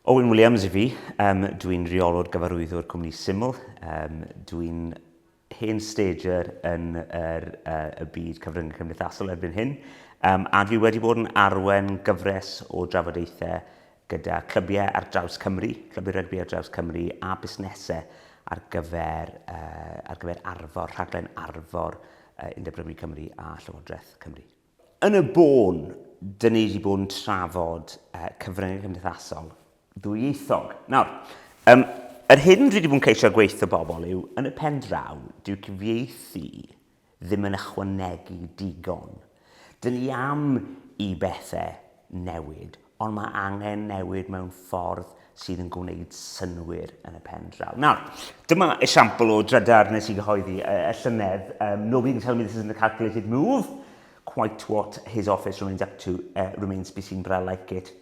Owen Williams i fi, um, dwi'n reolwr gyfarwyddwr cwmni Syml, um, dwi'n hen stager yn yr, uh, y byd cyfryngau cymdeithasol erbyn hyn, um, a dwi wedi bod yn arwen gyfres o drafodaethau gyda clybiau ar draws Cymru, clybiau rygbi ar draws Cymru a busnesau ar gyfer, uh, ar gyfer arfor, rhaglen arfor uh, Undeb Rygbi Cymru a Llywodraeth Cymru. Yn y bôn, dyn ni wedi bod yn trafod uh, cyfryngau cymdeithasol ddwyieithog. Nawr, um, yr hyn dwi wedi bod yn ceisio gweithio bobl yw, yn y pen draw, dyw cyfieithu ddim yn ychwanegu digon. Dyn ni am i bethau newid, ond mae angen newid mewn ffordd sydd yn gwneud synnwyr yn y pen draw. Nawr, dyma esiampl o drydar nes i gyhoeddi y llynedd, um, nobody can tell me this isn't a calculated move, quite what his office remains up to uh, remains to be seen, but I like it.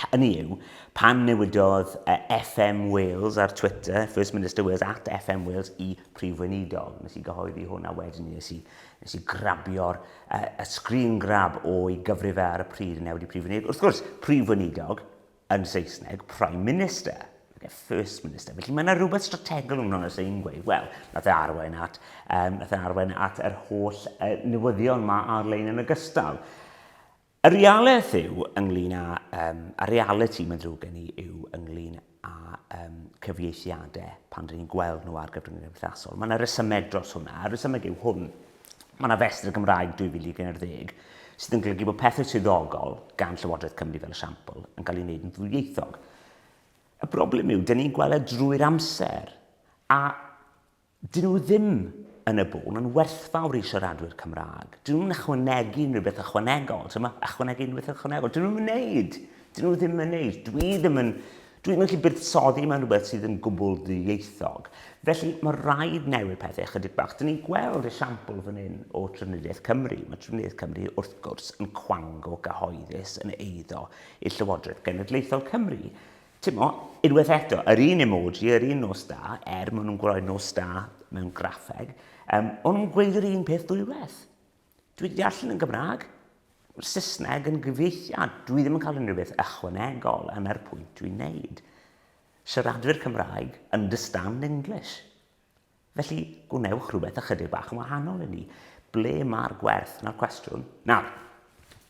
Hynny yw, pan newidodd uh, FM Wales ar Twitter, First Minister Wales at FM Wales i Prif Weinidog, nes i gyhoeddi hwn a wedyn nes i Nes i grabio'r yy screen grab o'i gyfrif e ar y pryd yn newid i Prif Weinidog. Wrth gwrs, Prif Weinidog yn Saesneg, Prime Minister, nage First Minister. Felly mae yna rhywbeth strategol yn hwnna sy'n gweud, wel, nath e arwain at, um, nath e arwain at yr holl uh, newyddion mae ar-lein yn ogystal. Y realaeth yw ynglyn â, um, y reality mae'n ddrwg gen i yw ynglyn â um, cyfieithiadau pan rydyn ni'n gweld nhw ar gyfryngau cymdeithasol. Mae yna resymeg dros hwnna, a'r resymeg yw hwn. Mae yna festr y Gymraeg 2011 sydd yn golygu bod pethau swyddogol gan Llywodraeth Cymru fel esiampl yn cael ei wneud yn ddwyieithog. Y broblem yw, dyn ni'n gweld e drwy'r amser, a Dyn nhw ddim yn y bôn yn werthfawr i siaradwyr Cymraeg. Dyn nhw'n ychwanegu unrhyw beth ychwanegol. Ti'n gwybod? Ychwanegu unrhyw beth ychwanegol. Dyn nhw'n wneud. Dyn nhw ddim yn wneud. Dwi ddim yn... Dwi ddim yn gallu buddsoddi mewn rhywbeth sydd yn gwbl ddieithog. Felly mae rhaid newid pethau ychydig bach. Dyn ni'n gweld esiampl fan hyn o Trafnidiaeth Cymru. Mae Trafnidiaeth Cymru wrth gwrs yn cwango cyhoeddus yn eiddo i'r Llywodraeth Genedlaethol Cymru. Timo, unwaith eto, yr un emoji, yr un nos da, er maen nhw'n gwroi nos da mewn graffeg, um, ond nhw'n gweud yr un peth dwywaith. Dwi wedi allan yn Gymraeg, mae'r Saesneg yn gyfeithiad, dwi ddim yn cael unrhyw beth ychwanegol yna'r pwynt dwi'n neud. Siaradwyr Cymraeg, understand English. Felly, gwnewch rhywbeth ychydig bach yn wahanol i ni. Ble mae'r gwerth? Na'r cwestiwn. Nawr,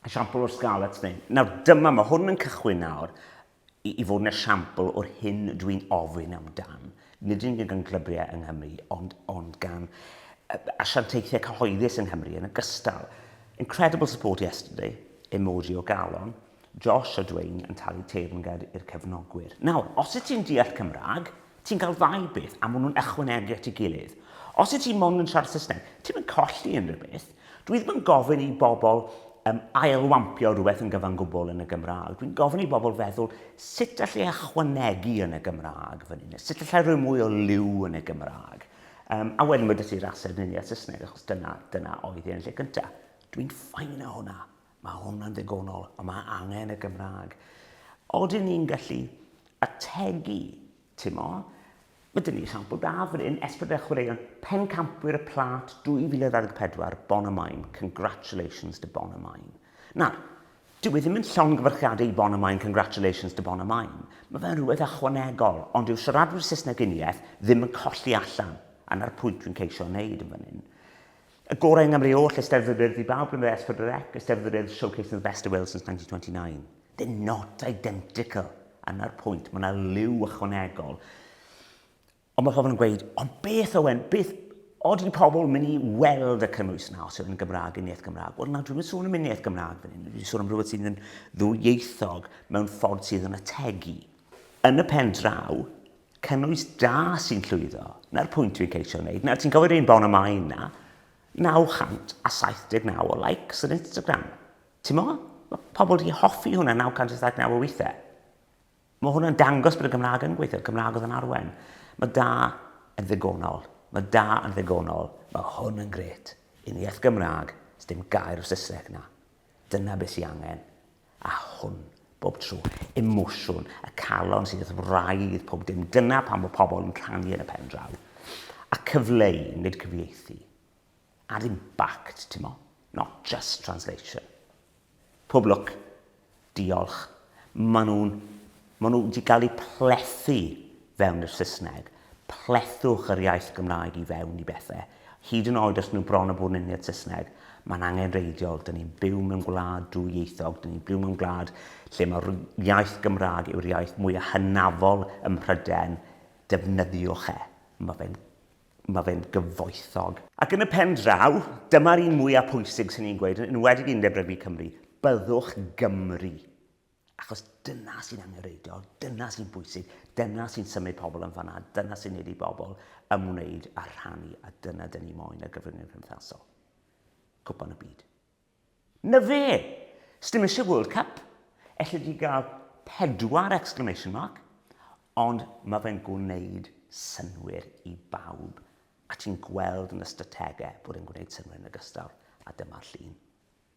esiampl o'r Scarlets neu... Nawr, dyma, mae hwn yn cychwyn nawr i, i fod yn esiampl o'r hyn dwi'n ofyn amdan. Nid yn gan glybriau yng Nghymru, ond, ond gan asiantaethau cyhoeddus yng Nghymru yn ogystal. Incredible support yesterday, emoji o galon. Josh a Dwayne yn talu teyrnged i'r cefnogwyr. Nawr, os wyt ti'n deall Cymraeg, ti'n cael ddau beth, a maen nhw'n ychwanegu at ei gilydd. Os wyt ti mond yn siarad Saesneg, ti'm yn colli unrhyw beth. Dwi ddim yn gofyn i bobl um, ailwampio rhywbeth yn gyfan gwbl yn y Gymraeg. Dwi'n gofyn i bobl feddwl sut allai ychwanegu yn y Gymraeg fan hyn, sut allai rhoi mwy o liw yn y Gymraeg. Um, a wedyn mae dysgu'r ased neu a Saesneg, achos dyna, dyna oedd e yn lle cyntaf. Dwi'n ffain o hwnna. Mae hwnna'n ddigonol, ond mae angen y Gymraeg. Oedden ni'n gallu ategu, ti'n mo? Mae dyn ni sampl da fan hyn, Esbyd a Chwaraeon, Pencampwyr y Plat 2024, Bon y Maen, congratulations to Bon y Maen. Na, dyw e ddim yn llawn gyfarchiadau i Bon y Maen, congratulations to Bon y Maen. Mae fe'n rhywbeth ychwanegol, ond yw siaradwyr Saesneg uniaith ddim yn colli allan, a na'r pwynt dwi'n ceisio wneud yn fan hyn. Y gorau yng Nghymru oll, Eisteddfod yr Urdd i bawb blynyddoedd ers Phedwar Dec, Eisteddfod yr Urdd showcasing the best of Wales since 1929. They're not identical. Yna'r pwynt, mae yna liw ychwanegol. Ond mae pobl yn gweud, ond beth Owen, beth od i pobl mynd i weld y cynnwys yna os yw'n Gymraeg yn iaith Gymraeg? Wel na, dwi'n mynd sôn am un iaith Gymraeg fan hyn. Dwi'n sôn am rhywbeth sydd yn ddwyieithog mewn ffordd sydd yn ategu. Yn y pen draw, cynnwys da sy'n llwyddo. Na'r pwynt dwi'n ceisio wneud. Nawr, ti'n cofio un bon y mae yna 979 o likes ar Instagram. Ti'n mo? Mae pobl wedi hoffi hwnna 979 o weithiau. Mae hwnna'n dangos bod y Gymraeg yn gweithio, Cymraeg oedd yn arwen. Mae da yn ddigonol. Mae da yn ddigonol. Mae hwn yn gret. Yn iaith Gymraeg, dim gair o Saesneg na. Dyna beth sy'n angen. a hwn, bob tro, emosiwn y calon sydd wrth wraidd pob dim, dyna pam fod pobl yn canu yn y pen draw, a cyfleu, nid cyfieithu. Add impact, ti'n mo, not just translation. Pob lwc, diolch, maen nhw'n Maen nhw wedi cael eu plethu fewn i'r Saesneg. Plethwch yr iaith Gymraeg i fewn i bethau. Hyd yn oed os nhw bron a bod yn uniad Saesneg, mae'n angenreidiol. Dyn ni'n byw mewn gwlad dwyieithog. Dyn ni'n byw mewn gwlad lle mae'r iaith Gymraeg yw'r iaith mwyaf hynafol ym Mhrydain. Defnyddiwch e. Mae fe'n mae fe'n gyfoethog. Ac yn y pen draw, dyma'r un mwyaf pwysig sy'n i'n gweud, yn enwedig i Undeb Rygbi Cymru, byddwch Gymry. Achos dyna sy'n angenrheidiol, dyna sy'n bwysig, dyna sy'n symud pobl yn fanna, dyna sy'n neud i bobl ymwneud a rhannu, a dyna dyn ni moyn ar gyfryngau cymdeithasol. Cwpan y byd. Na fe! Sdim eisiau World Cup. Elli di gael pedwar exclamation mark, ond mae fe'n gwneud synwyr i bawb, a ti'n gweld yn y strategau bod e'n gwneud synwyr yn ogystal, a dyma'r llun.